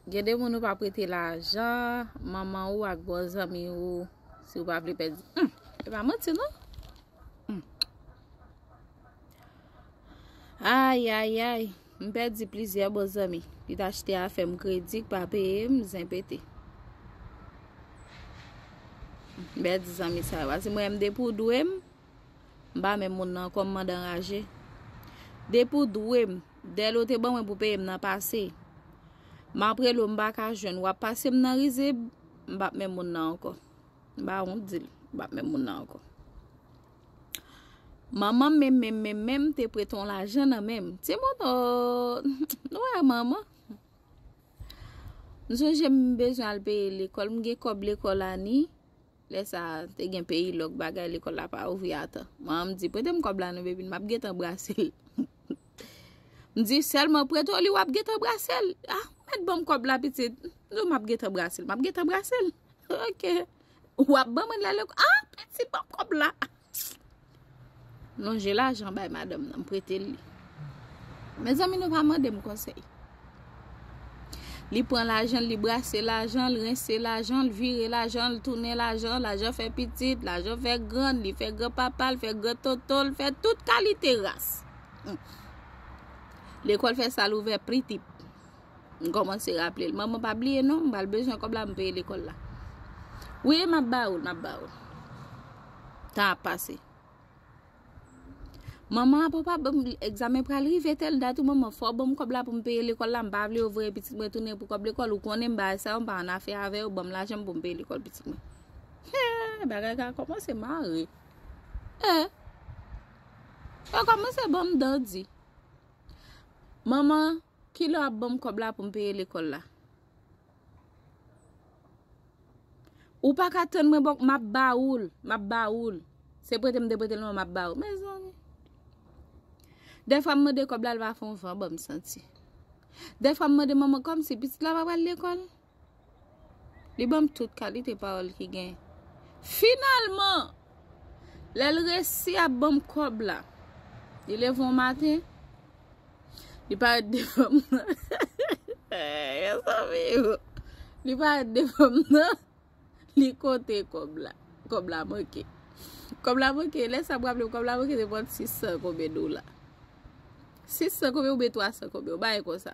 Gen de moun ou pa prete lajan, manman ou ak bon zanmi ou, si ou pa vle pèdi. Humm, e pa manti non. Humm. Ay, ay, ay, m pèdi plizyè bon zanmi. Li ta chete a fèm kredi, k pa peye m, zen pete. M pèdi zanmi sa yo. Asi mwen m de pou dwe m, M pa menm moun nan ankò m mande anraje Depi w dwe m Dèle w te ban mwen pou peye m nan pase M ap rele w m pa ka jwenn w ap pase m nan rizib M pap menm moun nan ankò M pa wont di l M pap menm moun nan ankò Manman m menm menm menm menm te prete yon lajan nan men m Ti moun o Nou wè manman M sonje m bezwen al peye lekòl m gen kòb lekòl Ani Lè sa te gen peyi lòk bagay lekòl la pa ouvri atan. Manman m di prete m kòb la non bebin map gentan brase l. M di sèlman prete w li wap gentan brase l. A ou mèt banm kòb la pitit. M di w map gentan brase l map gentan brase l. Ok. Wap banm an la lekòl. A pitit banm kòb la. Lonje lajan bay madanm nan m prete l li. Mezanmi nou pa mande m konsèy. Li pran lajan l, li brase lajan l, rense lajan l, vire lajan l, tounen lajan l, lajan fè pitit, lajan fè grann, li fè gran papa l, fè gran tonton l, fè tout kalite ras. Lekòl fè sa l ouvè pritip. M kòmanse raple l. Manman pa bliye non, m pral bezwen kòb la m peye lekòl la. Wi e m ap ba ou l, m ap ba ou l. Tan ap pase. Manman apa w pa ban m, egzamen pral rive tèl dat wi manman, fò w ban m kòb la pou m peye lekòl la, m pa vle yo voye pitit mwen tounen pou kòb lekòl, ou konnen m bagay sa yo m pa annafè avè yo, ban m lajan m pou m peye lekòl pitit mwen. Hee, bagay ka kòmanse mare. Hee, yo kòmanse ban m dan di. Manman, ki lè w ap ban m kòb la pou m peye lekòl la? Ou pa ka tann mwen bòk, m ap ba ou l, m ap ba ou l. Se prete m te prete l non, m ap ba ou l. Mezanmi! Dè fwa m mande kòb la, l pa fè yon van ban m santi. Dè fwa m mande manman, kòmsi pitit la pa pral lekòl? Li ban m tout kalite pawòl ki gen. Finalman, lè l resi ap ban m kòb la, li leve yon maten, li parèt devan m nan, mezanmi o, li parèt devan m nan, li konte kòb la, kòb la manke. Kòb la manke, lè sa m raple m, kòb la manke te pran 600 konbyen dola. 600 konbyen oubyen 300 konbyen, yon bagay konsa.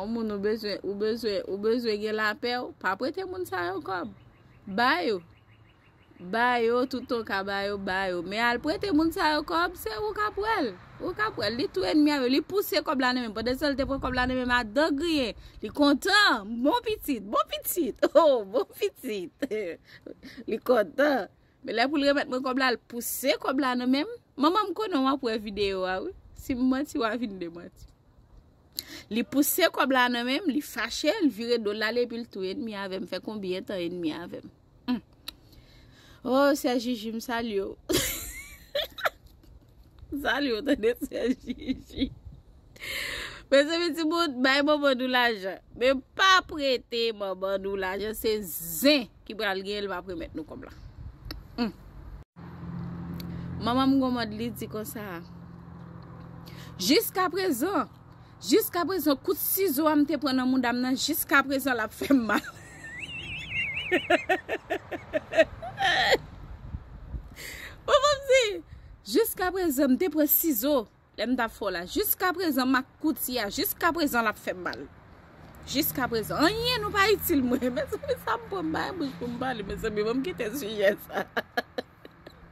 On moun ou bezwen, ou bezwen, ou bezwen gen la pè ou, pa prete moun sa yo kòb. Ba yo. Ba yo, touton ka ba yo, ba yo. Men al prete moun sa yo kòb, se ou ka pwèl. Ou ka pwèl. Li tou enmi a yo, li pouse kòb la nan men. Pande san li te pran kòb la nan men, ak dan griyen. Li kontan. Bon pitit, bon pitit. Oh, bon pitit. Li kontan. Men lè poul remèt mwen kòb la l pouse kòb la nan menm Manman m konnen wap wè video a wi Si m manti wa vin demanti Li pouse kòb la nan menm li fache l vire dol lale epi l tou enmi avèm fè konbyen tan enmi avèm Ohh sè Jiji m salye w Salut ou tande sè Jiji. Mezanmi ti moun bay manman nou lajan. Men pa prete manman nou lajan se zen ki pral gen l map remèt nou kòb la. Hum. Manman m gomad li di konsa. Jiska prezan Jiskaprezan kout sizo a m te pran nan mouda m nan jiskaprezan lap fè m mal. Ou konprann m di? Jiskaprezan m te pran sizo lè m tap fè w la jiskaprezan m ak kouti a jiskaprezan lap fè m mal. Jiskaprezan anyen nou pa itil mwen. Mezanmi sa m pran m pa gen bouch pou m pale mezanmi banm kite sijè sa.